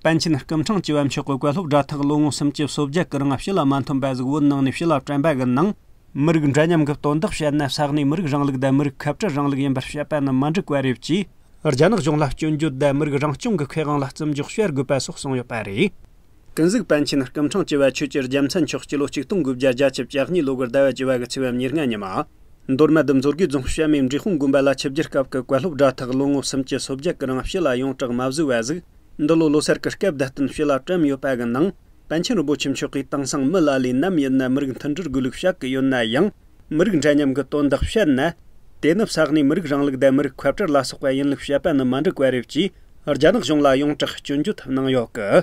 པཎ་ཆེན་སྐུ་འཕྲེང་བཅུ་བ་མཆོད་བཀོད་བཀའ་སློབ་སྒྲ་ཐག་ལོ་ངོ་སུམ་བཅུ་སོ་བརྒྱད་སྐུ་རིང་བཞི་ལ་མ་འཐོན་པ་གཟུགས་བོད་ནང་ནས་བྱི་ལ་བཀྲམ་པ་གི་ནང། མི་རིགས་འདྲ་མཉམ་གི་སྟོན་བདག་བཤད་ན་ས་གནས་མི་རིགས་རིང་ལུགས་དང་མི་རིགས་ཁ་བྲལ་རིང་ལུགས་ཡིན་པར་བཤད་པ་ནི་མ་འགྲིག་པ་རེད་ཅེས། རྒྱ་ནག་གཞུང་ལ་སྐྱོན་བརྗོད་དང་མི་རིགས་རང་སྐྱོང་གི་ཁེ་དབང་ལ་བརྩི་འཇོག་བྱེད་དགོས་པ་སོགས་གསུངས་ཡོད་པ་རེད། ཀུན་གཟིགས་པཎ་ཆེན་སྐུ་འཕྲེང་བཅུ་བ་ཆོས་ཀྱི་རྒྱལ་མཚན་མཆོག་སྤྱི་ལོ་ཆིག་སྟོང་དགུ་བརྒྱ་བརྒྱ་བཅུ་བཅུ་གཉིས་ལོ་དགུར་ཟླ་བ་བཅུ་བ་གི་ཚེས་བམ་ཉེར་ལྔ་ཉིན་མ་མདོར་ན་བདུད་མཚོ་དགེ་རྫོང་བཤའ་མའི་འབྲི་ཧུང་དགོན་པ་ལ་ཆིབས་བསྒྱུར་སྐབས་ཀྱི་བཀའ་སློབ་སྒྲ་ཐག་ལོ་ངོ་གསུམ་གྱི་སོ་བརྒྱད་ཀྱི་རིང་བཤུས་ལ་ཡོངས་གྲགས་མ་བཟོས་བ་གཟིགས། འདི་ལོ་ལོ་གསར་གྱི་སྐབས་བསྡད་རྟེན་བཤུས་ལ་བཀྲམ་ཡོད་པ་གི་ནང། པཎ་ཆེན་རིན་པོ་ཆེ་མཆོག་གིས་དེང་སང་མི་ལ་ལས་ནམ་ཡིན་ན་མི་རིགས་མཐུན་སྒྲིལ་དགོས་ལུགས་བཤད་ཀྱི་ཡོད་ན་ཡང། མི་རིགས་འདྲ་མཉམ་གྱི་དོན་དག་བཤད་ན། དེ་ནི་བསགས་ནས་མི་རིགས་རང་ལུགས་དད་མི་རིགས་ཁོད་བྲལ་ལ་སོགས་པ་ཡིན་ལུགས་བཤད་པ་ནི་མ་འགྲིག་པ་རེད་ཅེས་རྒྱ་ནག་གཞུང་ལ་ཡོངས་གྲགས་སྐྱོན་བརྗོད་གནང་ཡོད་ཀི།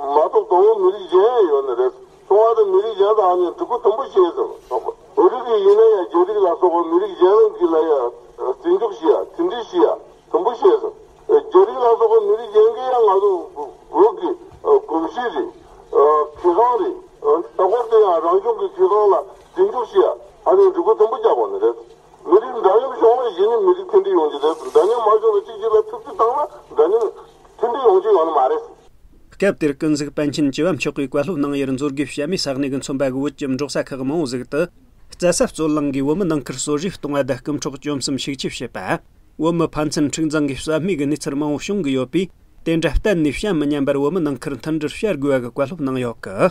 མ་གཏོགས་གདོང་བོ་མི་རིགས་གཞན་ཡང་ཡོད་ནི་རེད། གསུང་བ་དང་མི་རིགས་གཞན་དག་ནི་གྲི་གུ་དུམ་བུ་ཞེས་ཟེར་བ། བོད་རིགས་རིགས་ཡིན་ན་ཡང་རྒྱ་རིགས་ལ་སོགས་པ་མི་རིགས་གཞན་རང་གི་ལ་ཡང། ཚིག་མཇུག་བཞི་ཡ་ཚིག་འབྲི་བཞི་ཡ་དུམ་བུ་ཞེས་ཟེར། རྒྱ་རིགས་ལ་སོགས་པ་མི་རིགས་གཞན་གྱི་ཡང་ང་ཚོ། བོད་ཀྱི། གོམས་གཤིས་རེད། གི་ཁང་རེད། ད་སྐོར་དེ་ཡང་རང་བྱུང་གི་གི་ཁང་ལ་ཚིག་མཇུག་བཞི་ཡ་ཧ་ནི་གྲི་གུ་དུམ་བུ་རྒྱག་པ་ནི་རེད། མི་རིགས་འདྲ་མཉམ་བྱུང་ལ་གཞི་ནི་མི་རིགས་མཐུན་སྒྲིལ་ཡོང་རྒྱུ་རེད་འདྲ་མཉམ་མ་བྱུང་ལ་གཅིག་གཅིག་ལ་ཐུབ་རྒྱུ་བཏང་ན་འདྲ་མཉམ། མཐུན་འབྲེལ་ཡོང་རྒྱུ་ཡོང་ནི་མ་རེད། སྐབས་དེར་ཀུན་གཟིགས་པཎ་ཆེན་བཅུ་བ་མཆོག་གིས་བཀའ་སློབ་གནང་ཡུལ་མཛོད་དགེའི་བཤད་མའི་ས་གནས་ཀྱི་མཚོན་པ་གི་བོད་ཀྱི་འབྲོག་ས་ཁག་མང་བོ་ཟིག་ཏུ། རྩྭ་ས་གཙོད་རླངས་ཀྱིས་བོད་མི་ནང་ཁུལ་གསོ་རིག་གཏོང་བ་བརྡ་རྐུབ་འཕྲོག་བཅོམ་གསུམ་ཤུགས་ཆེ་བྱེད་པ། བོད་མི་ཕན་ཚུན་འཁྲིག་འཛིང་གི་ཟོལ་མེད་ཀྱི་གནས་ཚུལ་མང་བོ་བྱུང་གི་ཡོད་པས། དེ་འདྲ་གཏན་ནས་བྱ་མི་ཉན་པར་བོད་མི་ནང་ཁུལ་མཐུན་སྒྲིལ་བྱ་དགོས་པ་གི་བཀའ་སློབ་གནང་ཡོད་ཀི།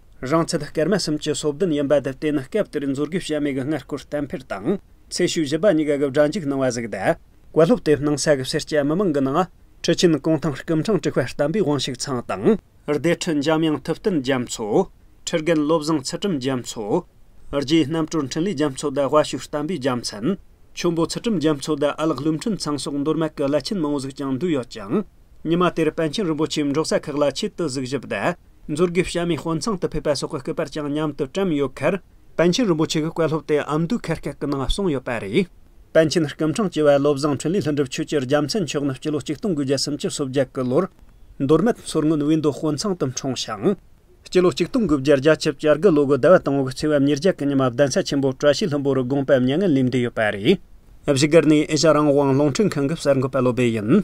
རང་ཚད་སྐར་མ་གསུམ་གྱི་སོ་བདུན་ཡིན་པ་དེར་བརྟེན་སྐབས་དེར་མཛོད་དགེ་བྱམས་མེད་ཀྱི་སྔར་སྐོར་གཏན་འཕེར་དང། ཚེས་བཞི་བཞི་པ་གཉིས་ཀ་གི་སྦྲ་འཇུག་གནང་བ་གཟིགས། བཀའ་སློབ་དེ་གནང་ས་གི་སེར་སྐྱ་མི་མང་གི་ནང། ཁྲི་ཆེན་ཀོང་ཐང་སྐུ་འཕྲང་དཀྲུག་པ་བསྟན་པའི་དབང་ཕྱུག་ཚང་དང། སྡེ་ཁྲི་འཇམ་དབྱངས་ཐུབ་བསྟན་རྒྱ་མཚོ། ཁྲི་རྒན་བློ་བཟང་ཚུལ་ཁྲིམས་རྒྱ་མཚོ། རྗེའི་རྣམ་སྤྲུལ་འཕྲིན་ལས་རྒྱ་མཚོ་དང་དབལ་ཤུལ་བསྟན་པའི་རྒྱ་མཚན། ཆུན་པོ་ཚུལ་ཁྲིམས་རྒྱ་མཚོ་དང་ཨ་ལགས་ཀླུ་འཕྲིན་ཚང་སོགས་འདོར་མ་གི་བླ་ཆེན་མང་བོ་ཟིག་ཀྱང་འདུས་ཡོད་ཅིང། ཉི་མ་དེར་པཎ་ཆེན་རིན་པོ་ཆེས་འབྲོག་ས་ཁག་ལ་ཆེད་དུ་གཟིགས་ཞིབ་དང། མཛོད་དགེ་བཤམས་མའི་དཔོན་ཚང་དུ་ཕེབས་པ་སོགས་ཀྱི་སྐུ་པར་ཀྱང་མཉམ་དུ་བཀྲམ་ཡོད་ཁར། པཎ་ཆེན་རིན་པོ་ཆེ་གི་བཀའ་སློབ་དེ་ཨ་མདོའི་ཁ་སྐད་ཀྱི་ནང་གསུངས་ཡོད་པ་རེད། པཎ་ཆེན་སྐུ་འཕྲེང་བཅུ་བ་བློ་བཟང་འཕྲིན་ལས་ལྷུན་གྲུབ་ཆོས་ཀྱི་རྒྱ་མཚན་མཆོག་ནི་སྤྱི་ལོ་ཆིག་སྟོང་དགུ་བརྒྱ་སུམ་ཅུ་སོ་བརྒྱད་ཀྱི་ལོར། མདོ་སྨད་མཚོར་སྔོན་དབུས་མདོ་དཔོན་ཚང་དུ་འཁྲུངས་ཤིང། སྤྱི་ལོ་ཆིག་སྟོང་དགུ་བརྒྱ་རྒྱ་ཆིབས་བསྐྱར་དགུ་ལོ་དགུ་ཟླ་བ་དང་བོའི་ཚེས་བབ་ཉེར་བརྒྱད་ཀྱི་ཉི་མ་གདན་ས་ཆེན་པོ་བཀྲ་ཤིས་ལྷུན་པོ་རུ་དགོངས་པ་མྱ་ངན་ལས་འདས་ཡོད་པ་རེད། བཞུགས་སྒར་ནི་ཨེ་ཤ་རང་དབང་རླུང་འཕྲིན་ཁང་གི་གསར་འགོད་པ་བློ་སྦེ་ཡིན།